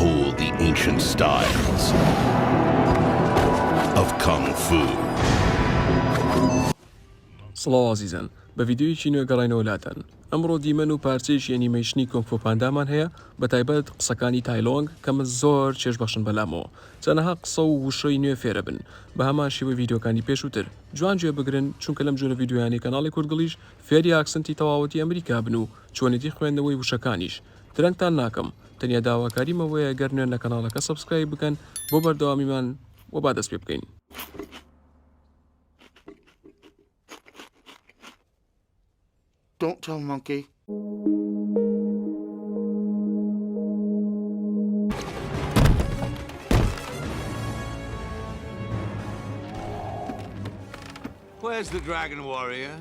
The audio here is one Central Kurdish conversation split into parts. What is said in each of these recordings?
All the ancient styles of Kung Fu. سڵاو ئازیزان بە ڤیدیۆیەکی نوێ گەڕاینەوە لاتان ئەمڕۆ دیمەن و پارچەیەکی ئەنیمەیشنی کۆنگ فۆ پاندامان هەیە بە تایبەت قسەکانی تای لۆنگ کە من زۆر چێژ بەخشن بەلامەوە چەنەها قسە و وشەی نوێ فێرە بن بە هەمان شێوەی ڤیدیۆکانی پێشووتر جوان گوێ بگرن چونکە لەم جۆرە ڤیدیۆیانی کەناڵی کوردگڵیش فێری ئاکسنتی تەواوەتی ئەمریکا بن و چۆنێتی خوێندنەوەی وشەکانیش درەنگتان ناکەم تەنیا داواکاریم ئەوەیە گەر نوێن لە کەناڵەکە سەبسکرایب بکەن بۆ بەردەوامیمان و با دەست پێ بکەین. Don't tell monkey. Where's the dragon warrior?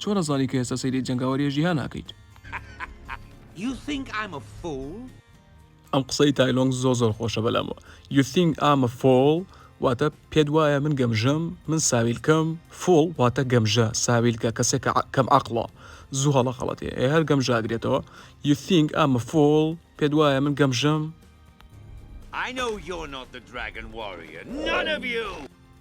چۆن ئەزانی کە ئێستا سەیری جەنگاوەریە جیهان ئەکەیت؟ ئەم قسەی تایلۆنگ زۆر زۆر خۆشە بەلام You think I'm a fool واتە پێت وایە من گەمژەم من ساویلکەم فوڵ واتە گەمژە ساویلکە کەسێک کەم عقڵە زوو هەڵە خەڵەتێ ئێ هەر گەم ژاگرێتەوە You think I'm a fool پێت وایە من گەمژەم I know you're not the dragon warrior none of you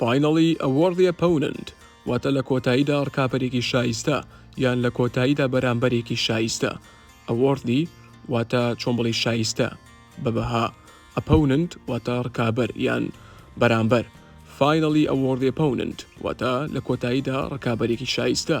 Finally a worthy opponent واتە لە کۆتاییدا ڕکابەرێکی شایستە یان لە کۆتاییدا بەرامبەرێکی شایستە a worthy واتە چۆن بڵێی شایستە بە بەها opponent واتە ڕکابەر یان بەرامبەر Finally a worthy opponent واتە لە کۆتاییدا ڕکابەرێکی شایستە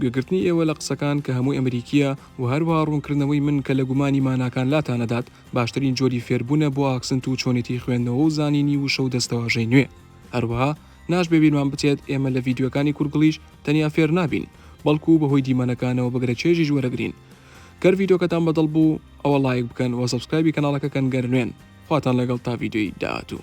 گوێگرتنی ئێوە لە قسەکان کە هەمووی ئەمریکییە و هەروەها ڕوونکردنەوەی من کە لە گومانی ماناکان لاتان ئەدات باشترین جۆری فێربوونە بۆ ئاکسنت و چۆنێتی خوێندنەوە و زانینی وشە و دەستەواژەی نوێ هەروەها ناشبێ بیرمان بچێت ئێمە لە ڤیدیۆکانی کورگڵیش تەنیا فێر نابین بەڵکو بەهۆی دیمەنەکانەوە بەگرە چێژیش وەرەگرین گەر ڤیدیۆکەتان بەدڵ بوو ئەوە ڵایک بکەن وە سەبسکرایبی کەناڵەکە کەن گەر نوێن خواتان لەگەڵ تا ڤیدیۆی داهاتوو.